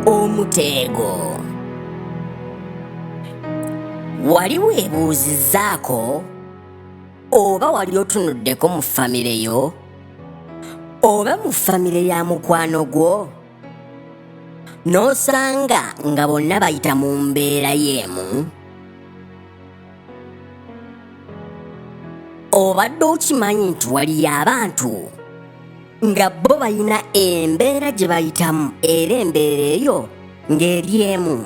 Omuteego. Wali weebuuzizzaako oba wali otunuddeko mu famire yo oba mu famire ya mukwano gwo n'osanga nga bonna bayita mu mbeera y'emu? obadde okimanyi nti waliyo abantu nga bo balina embeera gye bayitamu era embeera eyo ng'eri emu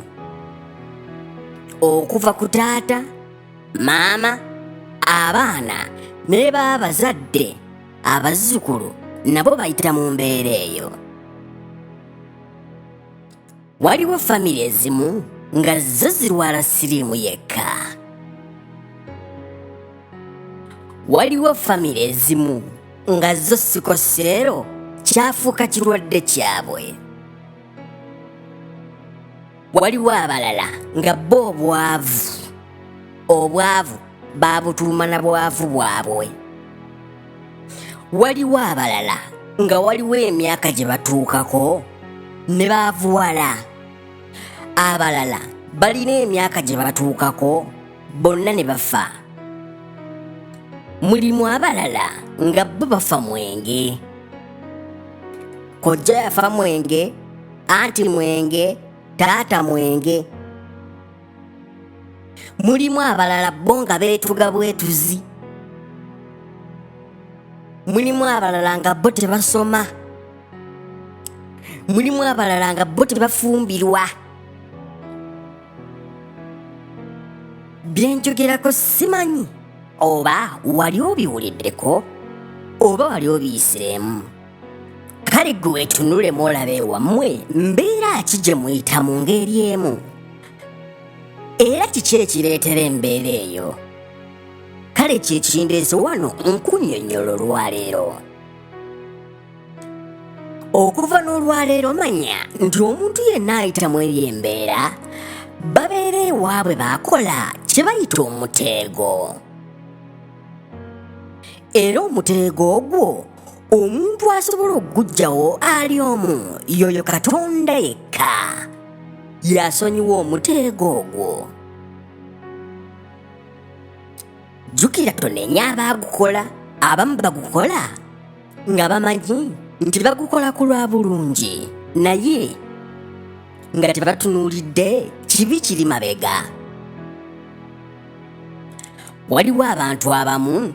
okuva ku taata maama abaana ne baabazadde abazzukulu nabo bayita mu mbeera eyo waliwo famire ezimu nga zo zirwala siriimu yekka waliwo famire ezimu nga zo sikoseero kyafuuka kirwadde kyabwe waliwo abalala nga bo obwavu obwavu baabutuuma na bwavu bwabwe waliwo abalala nga waliwo emyaka gye batuukako ne baavuwala abalala balina emyaka gye batuukako bonna ne bafa mulimu abalala nga bo bafa mwenge kojja yafa mwenge anti mwenge taata mwenge mulimu abalala bo nga beetuga bwetuzi mulimu abalala nga bo tebasoma mulimu abalala nga bo tebafumbirwa byenjogerako simanyi oba wali obiwuliddeko oba wali obiyisiremu kale gwe wetunulemu olabe wammwe mbeera ki gye muyita mu ngeri emu era kiki ekireetera embeera eyo kale kyekindeezo wano nkunyonyola olwaleero okuva n'olwaleero manya nti omuntu yenna ayita mu eri embeera babeera ewaabwe baakola kye bayita omuteego era omuteego ogwo omuntu asobola okugujjawo ali omu yoyo katonda yekka yasonyiwa omuteego ogwo jjukira tonenya abaagukola abamu bagukola nga bamanyi nti bagukola ku lwa bulungi naye nga tebatunuulidde kibi kiri mabega waliwo abantu abamu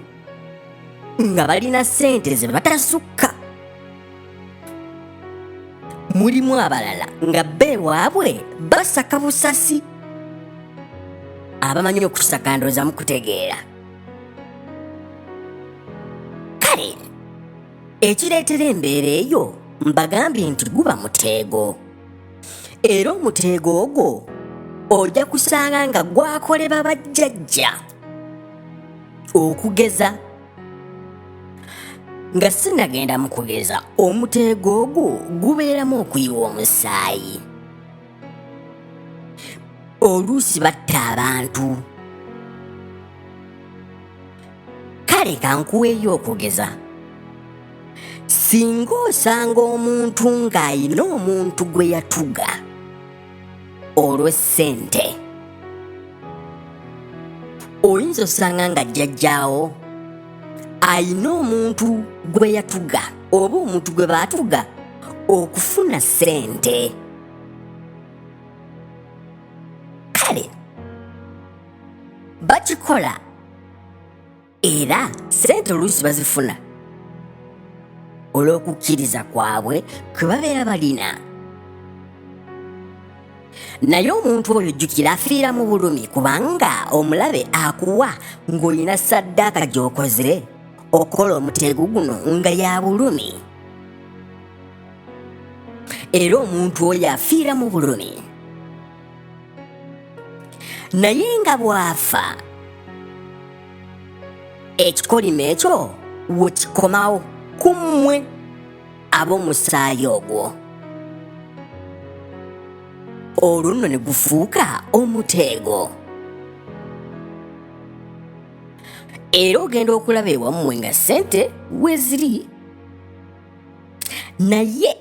nga balina ssente ze batasukka mulimu abalala nga be waabwe basaka busasi abamanyi okusaka ndooza mukutegeera kale ekireetera embeera eyo mbagambye nti guba muteego era omuteego ogwo ojja kusanga nga gwakoleba bajjajja okugeza nga sinagenda mu kugeza omuteego ogwo gubeeramu okuyiwa omusaayi oluusi batta abantu kale kankuweeyo okugeza singa osanga omuntu ng'alina omuntu gwe yatuga olw'essente oyinza osanga nga jjajjaawo ayina omuntu gwe yatuga oba omuntu gwe baatuga okufuna ssente kale bakikola era sente oluusi bazifuna olw'okukkiriza kwabwe kwe babeera balina naye omuntu oyo jjukira afiira mu bulumi kubanga omulabe akuwa ng'olina saddaaka gy'okoze okukola omuteego guno nga ya bulumi era omuntu oyo afiira mu bulumi naye nga bw'afa ekikolimo ekyo we kikomawo ku mmwe ab'omusaayi ogwo olwo nno ne gufuuka omuteego era ogenda okulaba ewammwe nga ssente we ziri naye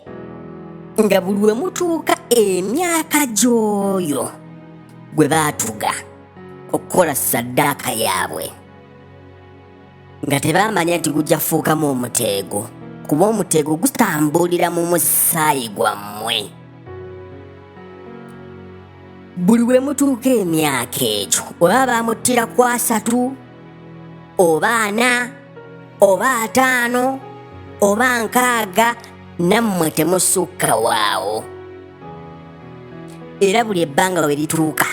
nga buli we mutuuka emyaka gy'oyo gwe baatuga okukola saddaaka yaabwe nga tebaamanya nti gujja kufuukamu omuteego kuba omuteego gutambulira mu musaayi gwammwe buli we mutuuka emyaka egyo oba baamuttira kwasatu oba ana oba ataano oba nkaaga nammwe temusukka waawo era buli ebbanga we lituuka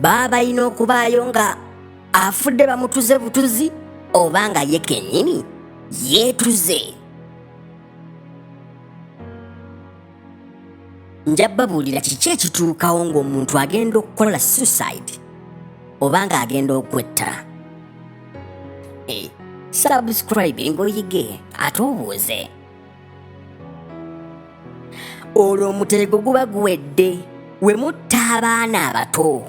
baba balina okubaayo nga afudde bamutuze butuzi oba nga ye kennyini yeetuze nja babuulira kiki ekituukawo ng'omuntu agenda okukola suicide oba ng'agenda okwetta eh, subscribe ngoyige ate obuuze olwo omuterego guba guwedde we mutta abaana abato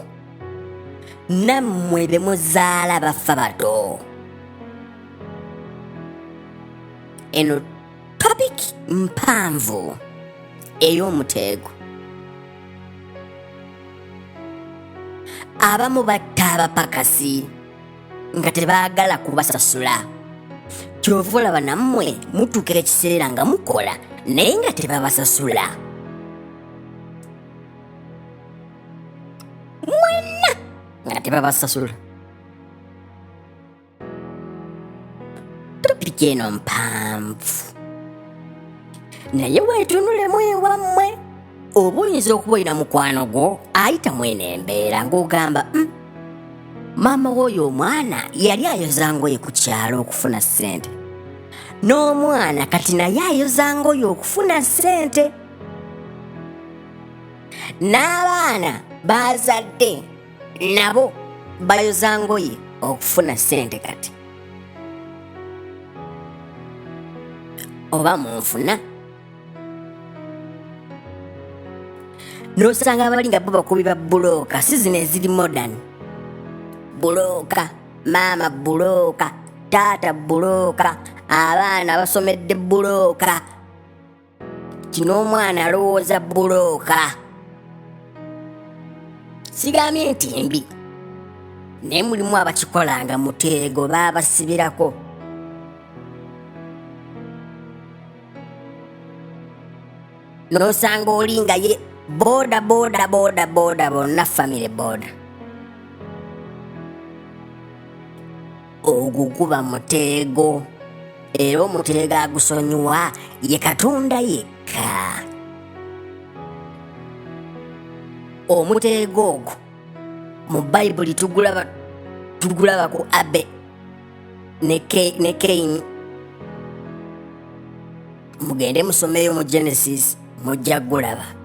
nammwe be muzaala bafa bato eno Topic mpanvu ey'omuteego. Abamu batta abapakasi nga tebaagala kubasasula. Kyova olaba nammwe mutuuka ekiseera nga mukola naye nga tebabasasula. Mwenna nga tebabasasula. topiki eno mpanvu naye weetunulemu ewammwe oba oyinza okuba olina mukwano gwo ayita mwene embeera ng'ogamba "Mm, maama w'oyo omwana yali ayoza ngoye ku kyalo okufuna ssente n'omwana kati naye ayoza ngoye okufuna ssente n'abaana baazadde nabo bayoza ngoye okufuna sente kati oba munfuna nosanga abali nga bo bakubi ba bulooka si zino eziri modern bulooka maama bulooka taata bulooka abaana basomedde bulooka kino omwana alowooza bulooka sigambye nti mbi naye mulimu abakikola nga muteego baabasibirako n'osanga oli nga ye booda booda booda booda bonna famire booda ogwo guba muteego era omuteego agusonyiwa ye katonda yekka omuteego ogwo mu bayibuli tugulaba tugulaba ku abe ne kaini mugende musomeyo mu genesis mujja gulaba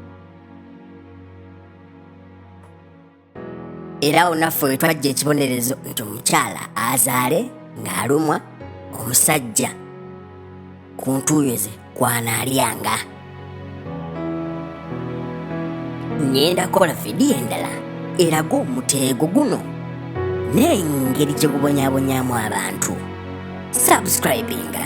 era awo naffe we twajja ekibonerezo nti omukyala azaale ng'alumwa omusajja ku ntuuyo ze kwanaalyanga ngenda kola vidiyo endala eraga omuteego guno n'engeri gye gubonyabonyamu abantu subscribinga